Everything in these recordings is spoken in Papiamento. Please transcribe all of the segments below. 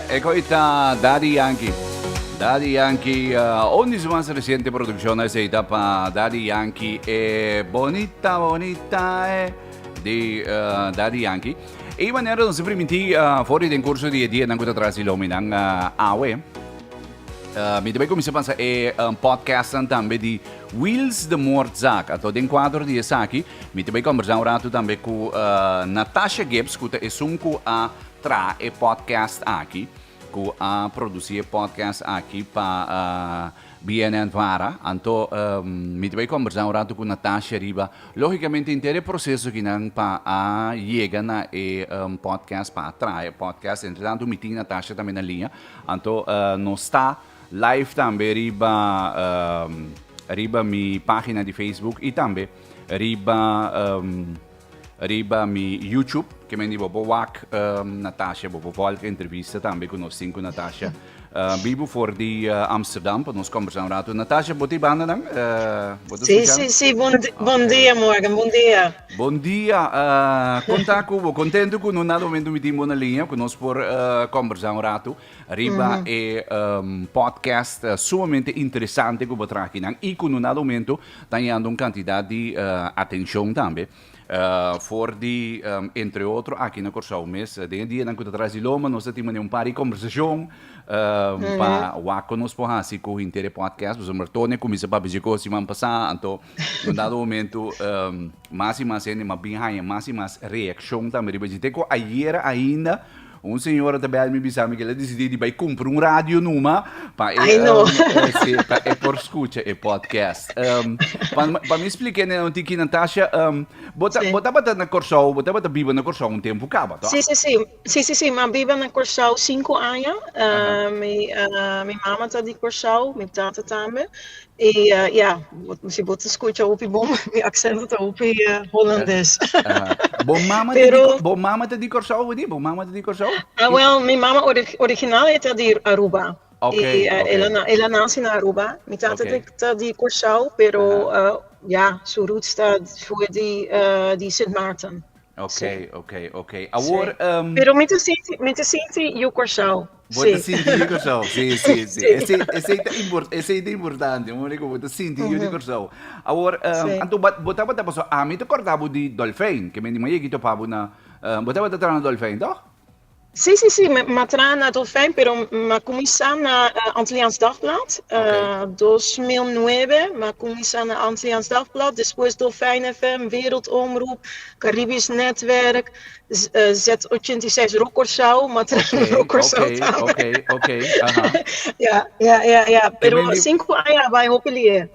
E koi ta Daddy Yankee. Daddy Yankee, uh, un di su mas reciente producción es ta pa Daddy Yankee, e Bonita Bonita, e di uh, Daddy Yankee. E manera nos primiti uh, for den curso di e día nan kuta trasi lomi nan uh, awe. Mi ta bai cuminsa pansa e podcastnan tambe di Wheels de Moordzaak. Anto den cuadro di esaki, mi ta bai conversa un rato tambe cu Natasha Gibbs, cu ta esun cu a traha e podcast aki, cu a produci e podcast aki pa BNN Vara. Anto mi ta bai conversa un rato cu Natasha riba, logicamente, henter e proceso akinan pa a yega na e podcast, pa a traha e podcast. Entretanto mi tin Natasha tambe na linea. Anto no sta live tambe riba um, riba mi pagina di Facebook y tambe riba um, riba mi YouTube, que men di bo bo wak um, Natasha, bo bo volg entrevista tambe cu nos tin cu Natasha. Uh, bibu for di uh, Amsterdam, pa nos conversa un rato. Natasha, bo ti banda dan? Uh, bo ti Sí, escuchan? sí, sí, bom, di- bom Okay. dia, Morgan, bom dia. Bon dia, uh, con ta cu bo? Contento cu no na momento mi timbo na línea, cu nos por uh, conversar un rato riba mm -hmm. e um, podcast uh, sumamente interesante cu bo traje nan y cu no na momento ta dando un cantidad de uh, atención también. Uh, for di, um, entre otro, aqui na Corsau mes, uh, den dia nan kuta tras di loma, nos tati mane un par di conversacion, uh, mm -hmm. pa wako nos po hasi ku intere podcast, pues amor tone kumisa pa bizi kosi man pasa, anto, Un dado momento mas y mas hende m'a bin haña mas y mas reaccion tambe riba dje. Te cu ayer ainda un señora ta bel mi bisa mi cu el a decidi di bay cumpra un radio numa pa e, si, pa e por scucha e podcast. pa, pa mi splica ene un tiki, Natasha, bo, bo tabata na Corsou, bo tabata biba na Corsou un tempo caba, toh? Si, si, si. Si si si mi a biba na Kòrsou sinku aña mi mi mama ta di Kòrsou mi tata tambe i ya si bo ta skucha hopi bon mi aksento ta hopi holandes pero Bo mama ta di Kòrsou Widy? Bo mama ta di Kòrsou? Awèl mi mama original e ta di Aruba el a nasi na Aruba mi tata ta di Kòrsou pero ya su roots ta shua di Sint Maarten. Ok, Sí. ok, ok. Sí. Awor, um, Pero mi te sinti, mi te sinti yu Kòrsou. bo te Sí. sinti yu di Kòrsou. Sí, sí, sí. Sí. Esei, esei ta impor- esei ta importante, un manier ku bo ta sinti yu di Ujú. Kòrsou. Awor, um, Sí. anto bo, bo tabata, paso ami ta kòrda bo di Dolfein, ke men di Maye ki topa bo na, eh, bo tabata traha na Dolfein, tòg? Sí, sí, sí, me, me trae na Dolfijn, pero me comienza na uh, Antilliaans Dagblad. Uh, 2009, me comienza na Antilliaans Dagblad. Después Dolfijn FM, Wereldomroep, Caribisch Netwerk, uh, Z86 Rokorsau. Me trae okay, na Rokorsau okay, también. Oké, okay, oké. Okay, ja, ja, ja, ja. Pero cinco años bij Hopelier.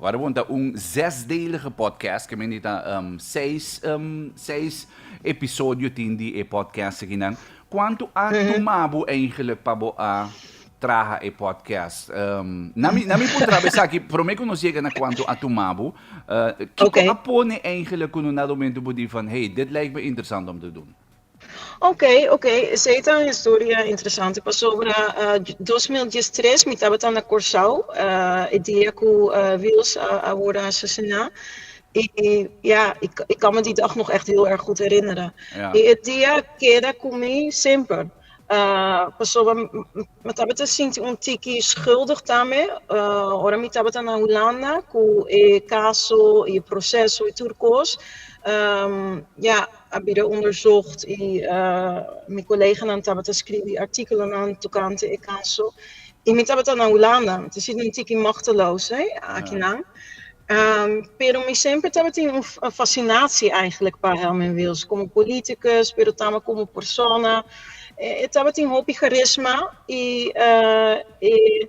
Wada bon ta un zesdelige podcast, ke mende ta seis seis episodio tin di e podcast akinan. Kuantu a tuma bo eigenlijk pa bo a traha e podcast? Na mi na mi por traha esaki, promé ku nos yega na kuantu a tuma bo, kiko a pone eigenlijk ku no na rumentu bo di van hey dit lijkme interesant om te dun? Ok ok esey ta un historia interesante pasobra dos mil dies tres mi tabata na Corsou e dia cu Wils a worde asasina y ya ik kan me di dag nog echt heel erg goed herinneren Ja. y e dia keda cu mi semper pasobra me tabata sinti un tiki schuldig tambe ora mi tabata na Hulanda cu e caso y e proceso y tur cos ya. a bira onderzocht y mi coleganan tabata scribi articulonan tocante e caso y mi tabata na Hulanda, ta sinti un tiki machteloos he, akinan, pero mi semper tabata tin un fascinatie eigenlijk pa Herman Wils, como politicus pero tambe como persona, e tabatin hopi charisma y e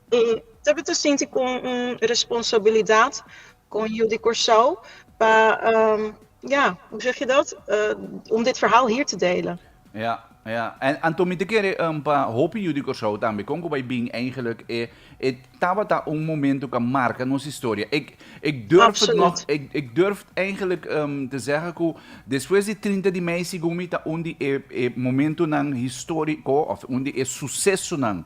E ta bit a sinti kon un responsabilidat kon yu di Kòrsou pa ja, hoe zeg je dat? om dit verhaal hier te delen. Ja, ja. En anto mi ta kere pa hopi yu di Kòrsou tambe, kon ku bai bin eigenlik e e tabata un momentu ku a marka nos historia. Ik ik durf het nog, ik ik durf eigenlik te zeggen ku despues di trinta di mei sigun mi ta un di e e momentunan historico of un di e sucesonan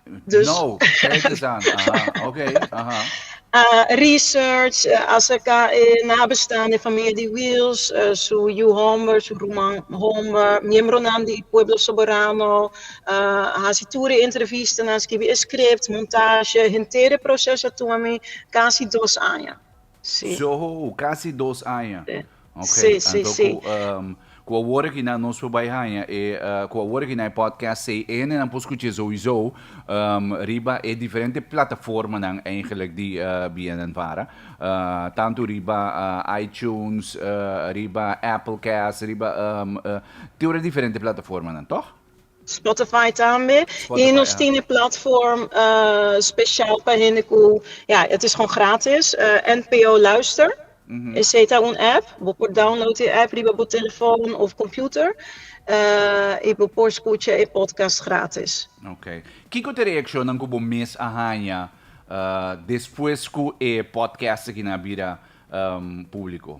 Dus, No, kijk eens aan. Aha, oké, aha. a research acerca e nabestaan di e famia di Wiels, su yu homber, su ruman homber, miembronan di Pueblo Soberano, a hasi tur e entrevistanan, skibi e script, montasje, henter e proces a tuma mi casi dos aña. Sí. Soho u casi dos aña. Sí. Ok, Sí, sí, anto sí. cu, ehm, cu awor aki nan nos por bai haña e, eh, cu awor aki nan e podcast C E N nan por scucha souiso, ehm, riba e diferente plataformanan eigenlijk di, eh, BNN Vara. Eh, tanto riba, eh, iTunes, eh, riba Applecast, riba, ehm, eh, te ora diferente plataformanan, tog? Spotify tambe y nos tin e platform special pa hende cu ya het is gewoon gratis NPO Luister esey ta un app bo por download e app riba bo telefon of computer y bo por scucha e podcast gratis. Ok. Kico ta e reaccionnan cu bo mes a haña despues cu e podcast aki nan a bira publico?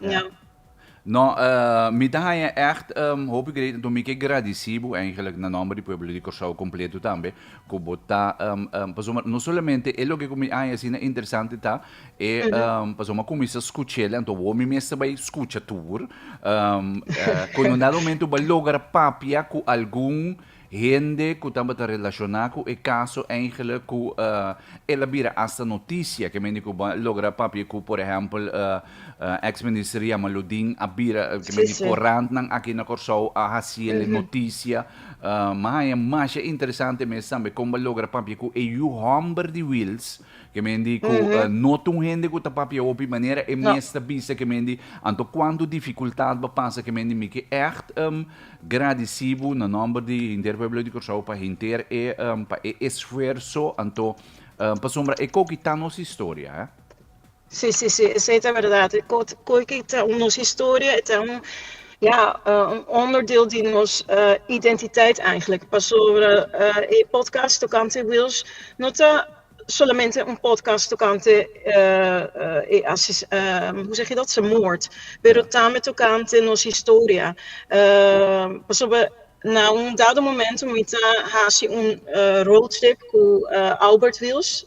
Ja. No, mi ta haña ègt hopi great, anto mi ke gradisí bo eigenlijk na nòmber di pueblo di Kòrsou kompleto tambe, ku bo ta pasobra no solamente e loke ku mi haña asina interesante ta e pasobra ku mi sa skuch'el, anto awor mi mester bai skucha tur, cuando un dado momento bo a logra papia ku algun Hende ku tabata relashoná ku e kaso eingele ku el a bira asta notisia ke men di ku bo a logra papia ku por ehèmpel eks minister Yama Ludin a bira ke men di korantnan aki na Kòrsou a hasiel e notisia mi a haña masha interesante mes tambe kon bo a logra papia ku e yu hòmber di Wils Ke mendi ku no ta un hende ku ta papia hopi manera e mes ta bisa ke mendi anto kuantu difikultat bo pasa ke mendi mi ke ègt gradisí bo na nòmber di henter pueblo di Kòrsou pa henter e pa e esfuerso anto pasobra e koki ta nos historia. Si si si esey ta berdad koe ki ta un nos historia e ta un ya un onderdeel di nos identiteit eigenlijk pasobra e podcast tokante Wils no ta solamente un podcast tokante e hoe zeg je dat se moord pero tambe tokante nos historia pasobra na un dado momento mi ta hasi un road trip ku Albert Wils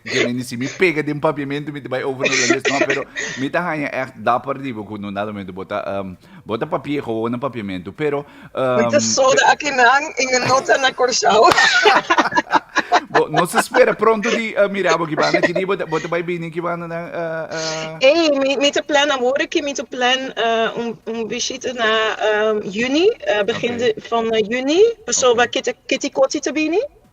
Dje mi ni si mi pega den papiamentu mi ta bai over holandés no pero mi ta haña echt dapper di bo ku no nada momento bo ta um, bo ta papie ko wou na papiamentu pero Mi ta um, soda akinan i mi no ta na Kòrsou. bo nos a spera pronto di uh, mira bo kibana kidi bo ta bo ta bai bini kibana na uh, uh, Ei, mi, mi te plan awor ki mi te plan eh, un, un visita na ehm, juni, eh, begin Oké. de, van eh, juni. Pasoba Oké. kiti, kiti koti te bini.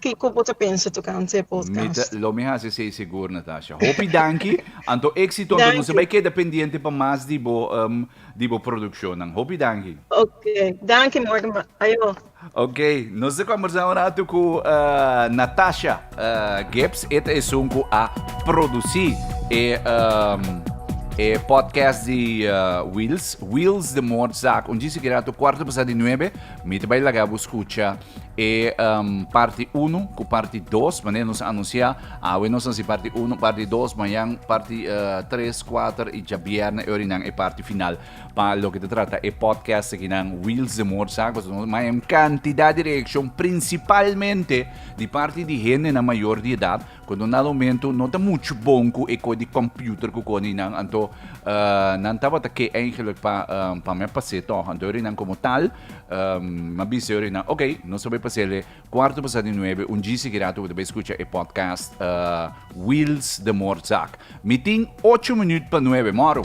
Kiko bo ta pensa tocante e podcast? Lo mi haci esey segur Natasha. Hopi danki, anto exito anto nos a bay keda pendiente pa mas di bo di bo produccionnan. Hopi danki. Ok, danki Morgan bay ayo. Ok, nos ta combersa un rato cu Natasha Gibbs, e ta esun cu a produci e e podcast di Wheels, Wheels de Moordzaak. Un djis aki rato cuarto pasa di nuebe mi ta bay laga bo scucha. E parti unu ku parti dos, manera nos a anunsiá awe nos a hasi parti unu, parti dos, mañan parti tres, kuater i djabièrnè e orinan e parti final pa loke ta trata e podcast akinan Wheels de Moordzaak. Pasobra nos maya un kantidat di reakshon prinsipalmente di parti di hendenan mayor di edat ku no na momentu no ta muchu bon ku e kohe di kòmpiuter ku koni nan. Anto nan tabata ke eigenlijk pa mè pas'é tòg. Anto e orinan komo tal. Um, ma bisa yo na, ok, nos ta bai pasele cuarto pasado di nueve, un djisi ki rato ta bai escucha e podcast uh, Wheels de Morzak. Mitin 8 minuut pa 9, moro!